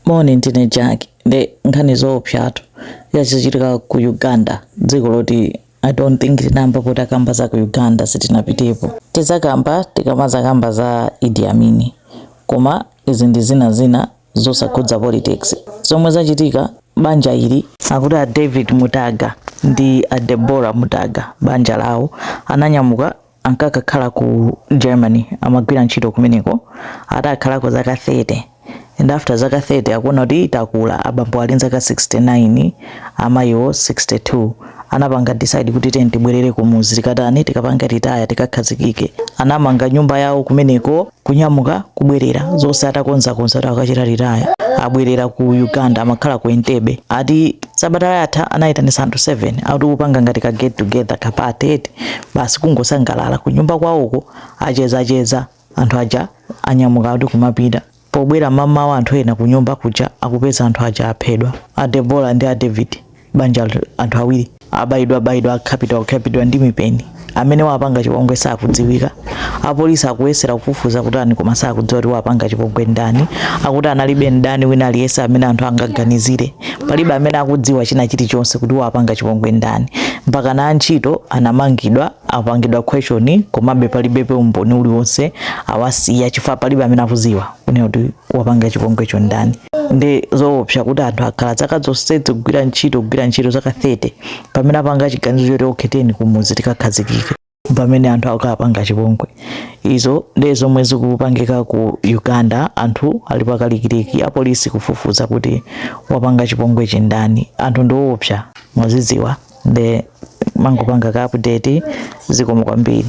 Moni ndine Jack nde nkhani zoopsatu yachitika ku Uganda dziko loti I don't think tinayambapo takamba za ku Uganda sitinapitepo tidzakamba tikamadzakamba za Idi Amini koma izi ndi zina zina zosakhudza politics zomwe zachitika banja ili akuti a David Mutaga ndi a Deborah Mutaga banja lawo ananyamuka ankakakhala ku Germany amagwira ntchito kumeneko atakhalako zaka 30 and after zaka 30 akuona kuti takula abambo ali nzaka 69 amayiwo 62 anapanga decide kuti tiyeni tibwerere kumuzi tikatani tikapanga retire tikakhazikike anamanga nyumba yawo kumeneko kunyamuka kubwerera zonse atakonzakonza kuti akachita retire abwerera ku Uganda amakhala ku Entebbe ati sabata yatha anayitanisa anthu 7 akuti kupanga ngati ka get together ka party basi kungosangalala kunyumba kwawoko achezacheza anthu aja anyamuka kuti kumapita pobwera mmawa anthu ena kunyumba kuja akupeza anthu aja aphedwa a Deborah ndi a David banja la anthu awiri abayidwa bayidwa akhapidwa khapidwa ndi mipeni amene wapanga chipongwe sakudziwika apolisi akuyesera kufufuza kutani koma sakudziwa kuti wapanga chipongwe ndani akuti analibe mdani wina aliyense amene anthu angaganizire palibe amene akudziwa china chilichonse kuti wapanga chipongwe ndani mpaka na antchito anamangidwa apangidwa question komabe palibebe umboni uliwonse awasiya chifukwa palibe amene akuziwa kunena kuti wapanga chipongwecho ndani ndi zoopsa kuti anthu akhala zaka zonsezi kugwira ntchito kugwira ntchito zaka 30 pamene apanga chiganizo choti okay tiyeni kumuzi tikakhazikike pamene anthu akapanga chipongwe izo ndi zomwe zikupangika ku Uganda anthu ali pakalikiliki apolisi kufufuza kuti wapanga chipongwechi ndani anthu ndiwoopsa mwazidziwa nde mangopanga ka update zikomo kwambiri